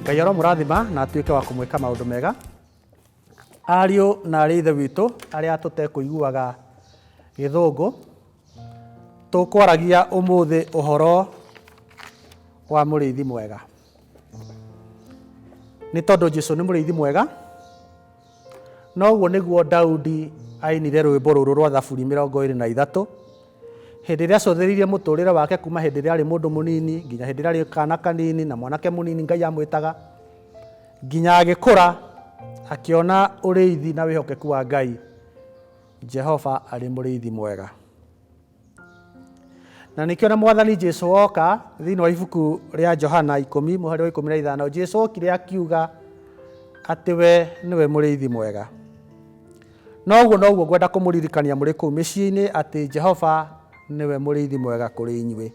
ngai aromũrathima na atuĩke wa kũmwĩka maũndũ mega ariũ na arĩ ithe witũ arĩa tũtekũiguaga gĩthũngũ tũkwaragia ũmũthĩ ũhoro wa mũrĩithi mwega nĩ tondũ jesu nĩ mũrĩithi mwega noguo nĩguo daudi ainire rwĩmbo rũrũ rwa thaburi mĩrongo ĩrĩ na ithatũ hĩndĩ ĩrĩa acũthĩrĩirie mũtũrĩre wake kuma hĩndĩ ĩrĩa arĩ mũndũ mũnini nginya hĩndĩ ĩrĩa arĩ kana kanini na mwanake mũnini ngai amwĩtaga nginya agĩkũra akĩona ũrĩithi na wĩhokeku wa ngai jehova arĩ mũrĩithi mwega Na nĩkĩo na mwathani Jesu woka thĩinĩ wa ibuku rĩa Johana ikũmi mũhari wa ikũmi na ithano Jesu okire akiuga atĩ we nĩwe mũrĩithi mwega na ũguo noguo ngwenda kũmũririkania mũrĩ kũu mĩciĩ-inĩ atĩ Jehova nĩwe mũrĩithi mwega kũrĩ inyuĩ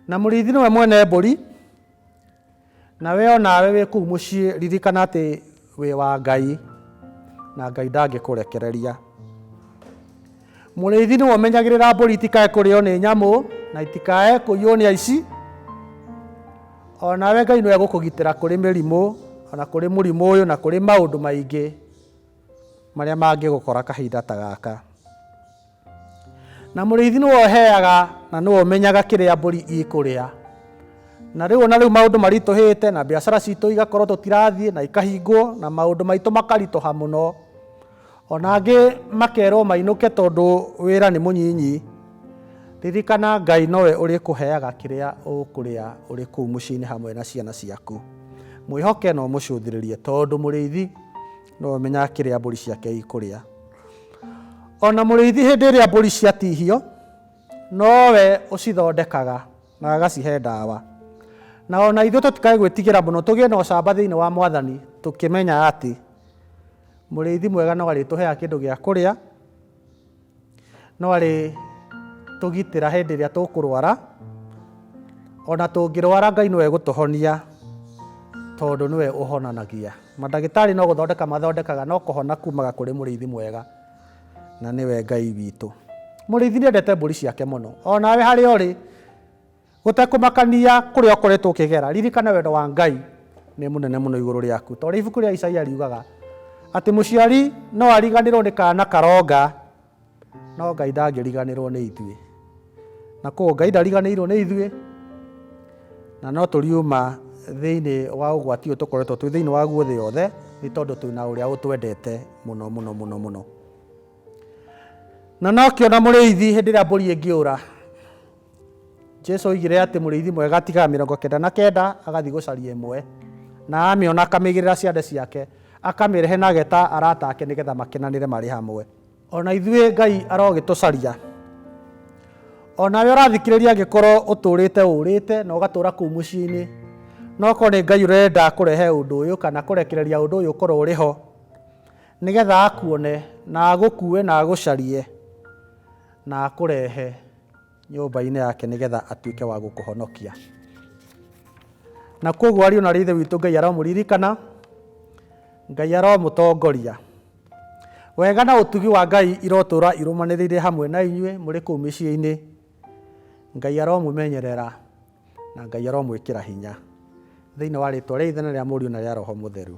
Na mũrĩithi nĩwe mwene mbũri, na we o nawe wĩ kũu mũciĩ ririkana atĩ wĩ wa Ngai, na Ngai ndangĩkũrekereria. Mũrĩithi nĩwe ũmenyagĩrĩra mbũri itikae kũrĩo nĩ nyamũ na itikae kũiywo nĩ aici. O nawe Ngai nĩwe egũkũgitĩra kũrĩ mĩrimũ, o na kũrĩ mũrimũ ũyũ na kũrĩ maũndũ maingĩ marĩa mangĩgũkora kahinda ta gaka. na mũrĩithi nĩwe ũheaga na nĩwe ũmenyaga kĩrĩa mbũri ikũrĩa na rĩu ona rĩu maũndũ maritũhĩte na biacara citũ igakorwo tũtirathiĩ na ikahingwo na maũndũ maitũ makaritũha mũno ona angĩ makerwo mainũke tondũ wĩra nĩ mũnyinyi ririkana ngai nowe ũrĩ kũheaga kĩrĩa ũkũrĩa ũrĩ kũu mũciĩ-inĩ hamwe na ciana ciaku mwĩhoke na ũmũcũthĩrĩrie tondũ mũrĩithi Nĩwe ũmenyaga kĩrĩa mbũri ciake ikũrĩa. O na mũrĩithi hĩndĩ ĩrĩa mbũri ciatihio, nowe ũcithondekaga na agacihe ndawa. Na o na ithuĩ tũtikae gwĩtigĩra mũno, tũgĩe na ũcamba thĩinĩ wa Mwathani, tũkĩmenyaga atĩ mũrĩithi mwega no arĩtũheaga kĩndũ gĩa kũrĩa. no arĩ tũgitĩra hĩndĩ ĩrĩa tũkũrwara ona tũngĩrwara Ngai nĩwe gũtũhonia tondũ nĩwe ũhonanagia mandagĩtarĩ no gũthondeka mathondekaga no kũhona kumaga kũrĩ mũrĩithi mwega na nĩwe Ngai witũ mũrĩithi nĩendete mbũri ciake mũno onawe harĩa ũrĩ Gũtekũmakania kũrĩa ũkoretwo ũkĩgera, ririkana wendo wa Ngai nĩ mũnene mũno igũrũ rĩaku. Ta ũrĩa ibuku rĩa Isaia riugaga atĩ mũciari no ariganĩrũo nĩ kaana karonga, no Ngai ndangĩriganĩrũo nĩ ithuĩ. Na kwoguo Ngai ndariganĩirũo nĩ ithuĩ, na no tũriuma thĩinĩ wa ũgwati ũyũ tũkoretwo twĩ thĩinĩ waguo thĩ yothe, nĩ tondũ twĩna ũrĩa ũtwendete mũno mũno mũno mũno. Na no kĩona mũrĩithi hĩndĩ ĩrĩa mbũri ĩngĩũra, Jesu oigire atĩ mũrĩithi mwega atigaga mĩrongo kenda na kenda agathiĩ gũcaria ĩmwe na amĩona akamĩigĩrĩra ciande ciake akamĩrehe na ageta arata ake nĩgetha makenanĩre marĩ hamwe ona ithuĩ ngai arogĩtũcaria onawe ũrathikĩrĩria angĩkorwo ũtũrĩte ũrĩte na ũgatũra kũu mũciĩ-inĩ no korwo nĩ ngai ũrenda kũrehe ũndũ ũyũ kana kũrekereria ũndũ ũyũ ũkorwo ũrĩ ho nĩgetha akuone na agũkue na agũcarie na akũrehe nyũmba-inĩ yake nĩgetha atuĩke wa gũkũhonokia na koguo ariũ na ithe witũ ngai aromũririkana ngai aromũtongoria wega na ũtugi wa ngai irotũra irũmanĩrĩire hamwe na inyuĩ mũrĩ kũu mĩciĩ-inĩ ngai aromũmenyerera na ngai aromwĩkĩra hinya thĩinĩ wa rĩtwa rĩa ithe na rĩa mũriũ na rĩa roho mũtheru